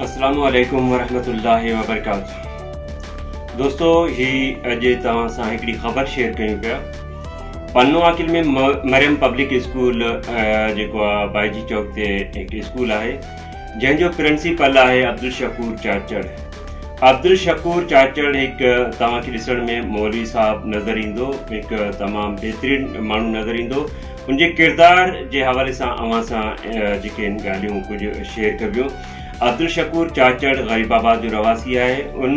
اسلام عليڪم ورحمة الله وبرڪاته دوستو هي اڄ توهان سان هڪڙي خبر شيئر ڪيون پيا پنو عاقل ۾ مريم پبلڪ اسڪول جيڪو آهي بائجي چوڪ تي هڪ اسڪول آهي جنهن جو پرنسپل آهي عبدالشڪور چاچڙ عبدالشڪور چاچڙ هڪ توهان کي ڏسڻ ۾ مولوي صاحب نظر ايندو هڪ تمام بهترين ماڻهو نظر ايندو هن جي ڪردار جي حوالي سان اوهان سان جيڪي هن ڳالهيون ڪجهه شيئر ڪبيون. عبدالشڪور چاچڙ غريب آباد جو رهواسي آهي. ان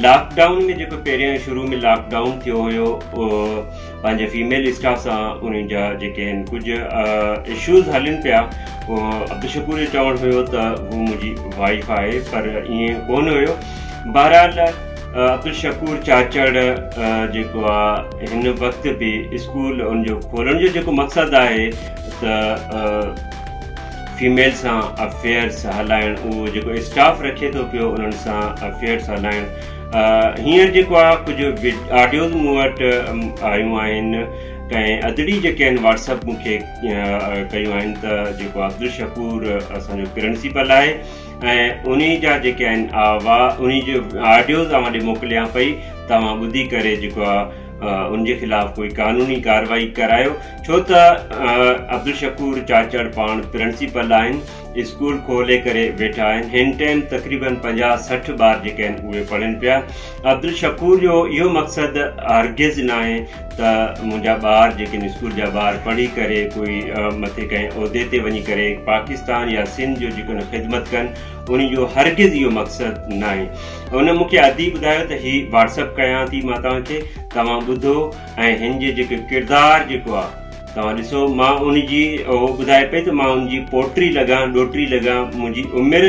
لاڪ ڊائون ۾ جيڪو پهريان شروع ۾ لاڪ ڊائون ٿيو هيو پنهنجي فيميل اسٽاف سان انهن جا جيڪي هن ڪجهه اشوز هلن پيا عبدالشڪور جو چوڻ هيو ته هو منهنجي وائف آهي پر ائين ڪونه هيو بهرحال عبدالشڪور چاچڙ جيڪو آ هن وقت به اسڪول ان جو کولڻ جو جيڪو مقصد آهي ته فيميل سان افيئرس هلائڻ اهو جيڪو اسٽاف رکي ٿو پيو انهن سان افيئرس هلائڻ هينئر جيڪو آ ڪجهه آڊيوز مون وٽ آيون آهن ڪنهن ادڙي جيڪي آهن واٽسپ مونکي ڪيون آهن ته جيڪو عبدالشڪور اسان جو پرنسپل آهي ۽ انهي جا جيڪي آهن اوا انهي جو آڊيوز اوهان ڏي موڪليان پئي ته اوهان ٻڌي ڪري جيڪو آ ان جي خلاف ڪوئي قانوني ڪارروائي ڪرايو ڇو ته عبدالشڪور چاچڙ پاڻ پرنسيپل آهن اسڪول کولي ڪري ويٺا آهن هن ٽائيم تقريبن پنجاهه سٺ ٻار جيڪي آهن اهي پڙهن پيا عبدالشڪور جو اهو مقصد هرگز ناهي ته منهنجا ٻار جيڪن اسڪول جا ٻار پڙهي ڪري ڪوئي مٿي ڪنهن عهدي تي وڃي ڪري پاڪستان يا سنڌ جو جيڪن خدمت ڪن انهي جو هرگز اهو مقصد ناهي هن مون کي عادي ٻڌايو ته هي واٽسپ ڪيان ٿي مان توهان کي توهان ٻڌو ۽ هن جي جيڪي ڪردار جيڪو آهي توهان ڏسو مان ان جي اهو ٻڌائي پئي ته مان ان جي پوٽري لڳان ڏوٽري لڳان منهنجي عمر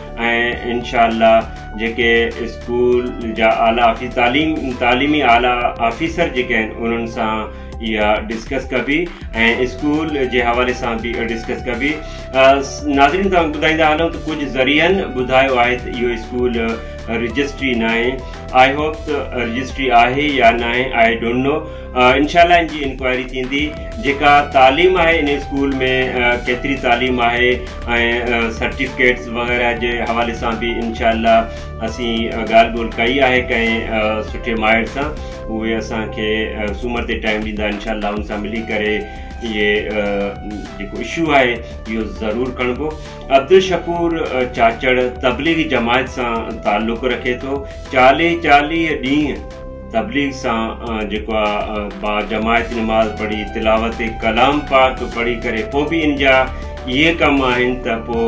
۽ انشاء الله جيڪي اسڪول جا اعليٰ آفيس تعليم تعليمي اعليٰ آفيسر جيڪي آهن انهن سان اها ڊسڪس ڪبي ۽ اسڪول جي حوالي سان به ڊسڪس ڪبي ناظرين توهان ٻڌائيندا هلون ته ڪجهه ذريعن ٻڌايو آهي ته اهو اسڪول رجسٽري ناهي آئي هوپ ته رجسٽري آهي يا ناهي آئي ڊونٽ نو انشاء الله ان جي انڪوائري ٿيندي جيڪا تعليم آهي ان اسڪول ۾ ڪيتري تعليم آهي ۽ سرٽيفڪيٽس وغيره جي حوالي سان به انشاء الله اسين ڳالهه ٻولهه ڪئي آهي ڪنهن سٺي ماهر سان اهي اسانکي سومر تي ٽائم ڏيندا انشاء الله ان سان ملي ڪري اهي جيڪو اشو آهي اهو ضرور کڻبو عبدالشڪور چاچڙ تبليغي جماعت سان تعلق رکي ٿو چاليهه چاليهه ڏينهن تبليغ سان جيڪو آ با جماعت نماز پڙهي تلاوت ڪلام پاڪ پڙهي ڪري پو به ان جا اهي ڪم آهن ته پو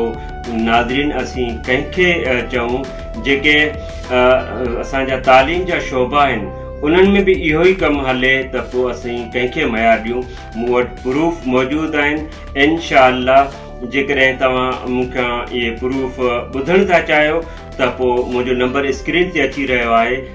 ناظرين اسين ڪنهن کي چئون جيڪي اسان جا تعليم جا شعبا آهن انهن ۾ به اهو ئي ڪم هلي ته پو اسين ڪنهن کي ميار ڏيون مون وٽ پروف موجود آهن انشاء الله جيڪڏهن توهان مون کان اهي پروف ٻڌڻ ٿا چاهيو ته پو منهنجو نمبر اسڪرين تي اچي رهيو آهي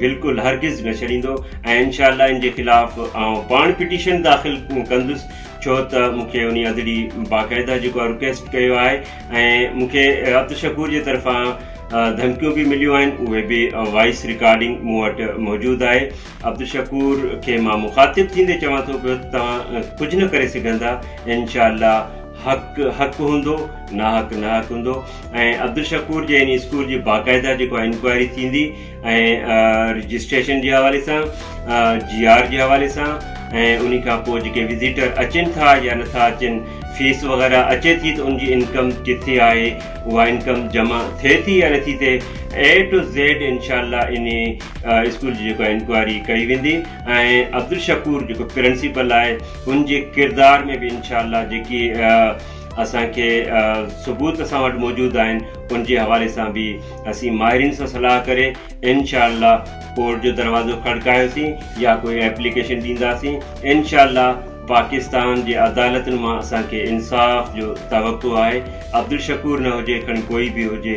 بلڪل هرگز نه ڇڏيندو ۽ انشاء الله ان جي خلاف آئون پاڻ پٽيشن داخل ڪندس ڇو ته مون کي انهي ادڙي باقاعده جيڪو آهي رڪويسٽ ڪيو آهي ۽ مون کي عبد شڪور جي طرفان ڌمڪيون به مليون آهن اهي به وائس رڪارڊنگ مون وٽ موجود آهي عبد شڪور کي مان مخاطب ٿيندي چوان ٿو پيو ته توهان ڪجهه نه ڪري سگهندا انشاء الله حق حق هوندو ناحق ناحق هوندو ۽ عبدالشڪور جي ان اسڪول جي باقاعده جيڪو آهي انڪوائري ٿيندي ۽ رجسٽريشن جي حوالي سان جي آر جي حوالي سان ۽ ان کان پوء جيڪي وزيٽر اچن ٿا يا نٿا اچن فيس وغيرہ اچي ٿي ته ان جي انڪم ڪٿي آهي اها انڪم جمع ٿئي ٿي يا نٿي ٿئي اي ٽو زيڊ انشاء الله ان اسڪول جي جيڪو انڪوائري ڪئي ويندي ۽ عبدالشڪور جيڪو پرنسپل آهي هن جي ڪردار ۾ به انشاء الله جيڪي اسان کي ثبوت اسان وٽ موجود آهن ان جي حوالي سان به اسين ماهرين سان صلاح ڪري انشاء الله ڪورٽ جو دروازو کڙڪايوسين يا ڪوئي ايپليڪيشن ڏينداسين انشاء الله پاڪستان جي عدالتن مان اسان کي انصاف جو توقع آهي عبدالشڪور نه هجي کڻي ڪوئي به هجي